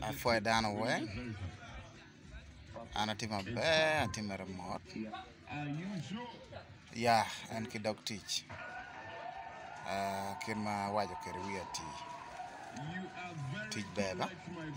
apwoyo dano weng an atye maber atye mere mot ya en ki dog tic kit ma awaco kwede wiya atir. tic ber dok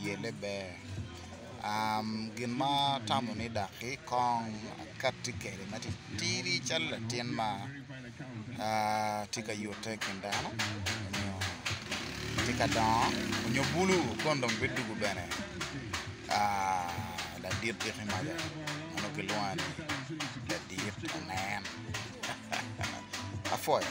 yelle ber gin ma atamo ni dok ki kong akati kwede ma titidi calo latin ma tye ka yute i kin dano nyo tye ka dongo nyo bulu kun dong bidwogo bene ladit diki malo nyo kilwongo ni ladit onen apwoyo.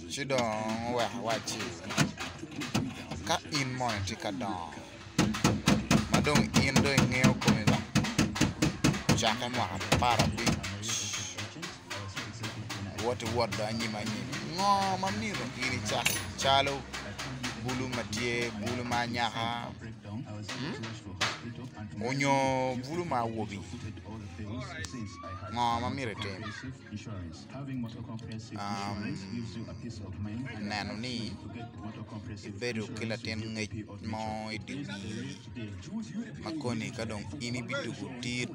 Ci dong oweko owacci, Ka in mono itye ka dongo, ma dong in dong ingeyo komi ba, cakke mwaka apar abic, wot iwot dong anyim anyim. Ngo ma myero in icak calo bulu ma tye, bulu ma anyaka, onyo bulu ma awobi? Ngo ma myero itim? neno ni ibedo ki latin ngec mo i dye wii ma koni ka dong in ibiduku tit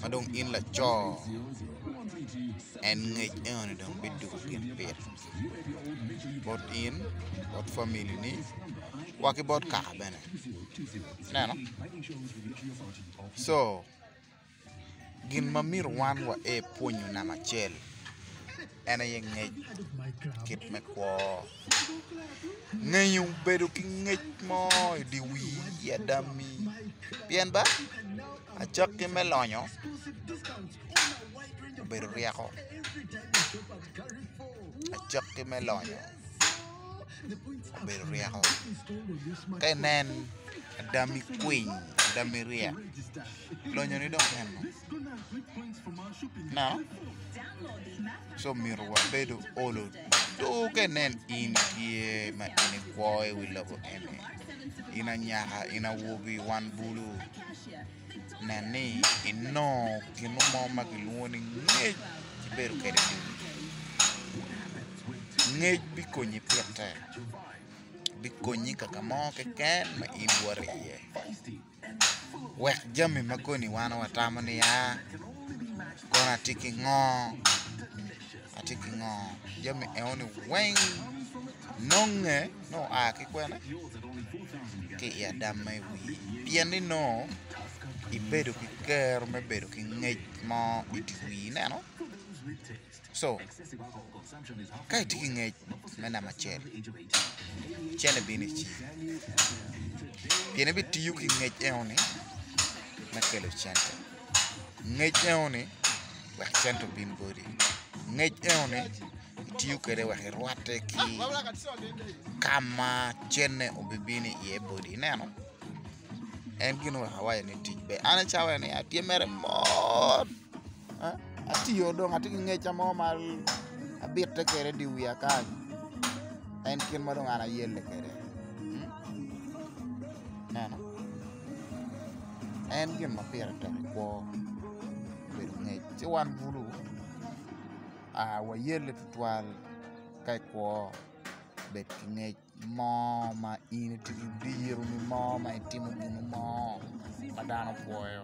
ma dong in laco en ngec enoni dong biduku gin pire bot in bot familini wa ki bot kaka bene ineno co. Gin ma myero wan wae pwonyo namba acel en aye ngec kit me kwo. Ngeyo bedo ki ngec mo i dye wii i ada mi pien ba acakki me lonyo obedo ryeko acakki me lonyo obedo ryeko ka inen ada mi kwiny ada mi ryek. Lonyo ni dong en ngo? Nano co mito wa bedo olo doge nen in tye ma in ikwo i wi lobo eni in anyaka in awobi wan bulu nen ni inongo gin mo ma kilwongo ni ngec ibedo kwede dul ngec bikonyi pite bikonyi kaka mo keken ma in iwoto iye. Wek jami ma koni wan watamo niya, kono atye ki ngo, atye ki ngo, jami enoni weng nonge nongo oa ki kwene? ki i adam ma i wiye pien ni nongo ibedo ki kero me bedo ki ngec mo i dye wii ineno? Co, Ka itye ki ngec me namba acel, cente bino i cingi pien ibitiyo ki ngec enoni me kelo cente. Ngec enoni wek cente obin boti, ngec enoni itiyo kwede wek irwatte ki ka ma cente obibino iye boti, ineno? En gin wek awaco ni tic ber. An acamo ni atye mere mot. Atiyo dong atye ki ngeca mo ma abitte kwede dye wiya kany en kit ma dong an ayelle kwede ineno en gin ma pire tek i kwo obedo ngec ci wan bulu wayelle tutwal ka i kwo bed ki ngec. mo ma in idiro nyo mo ma itimo gin mo ma dano opwoyo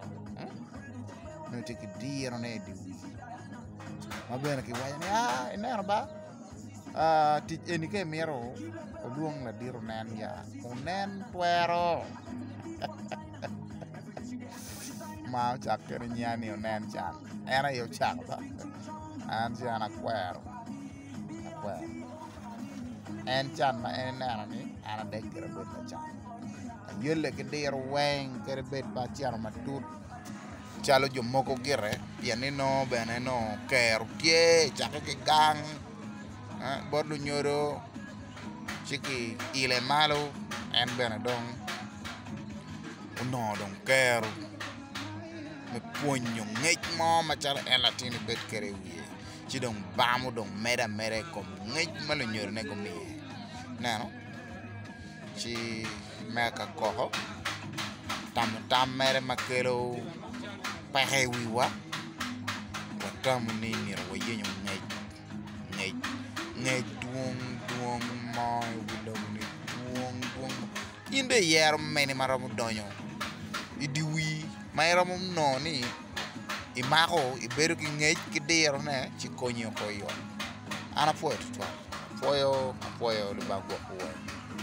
nyo itye ki diro ne idye wii ma bene ki waco ni a ineno ba tic eni ka imito olwong ladit onen ya onen twero ma ocak kene nya ni onen can en aye ocako an ce an akwero akwero en can ma en ineno ni an adek gire abedo lacan ayole ki diro weng kadi bed pe acito matut calo jo mogo gire pien ni nongo bene nongo kero tye cake ki gang bot lunyodo ci ki ile malo en bene dong onongo dong kero me pwonyo ngec mo macalo en latin ibed kwede i wiye ci dong bam odong mede ameda i kom ngec ma lunyodone gumiye ineno ci me akakoko tamo tam mere ma kelo peko i wiwa watamo ni myero wayenyo ngec ngec ngec dwong dwong mo i wi lobo-ni dwong dwong In dong iyero mene ma romo donyo i dye wii ma iromo nongo ni imako, ibedo ki ngec ki dirone ci konyi oko i ot. An apwoyo tutwal. Apwoyo, apwoyo Lubanga gwok wu weng.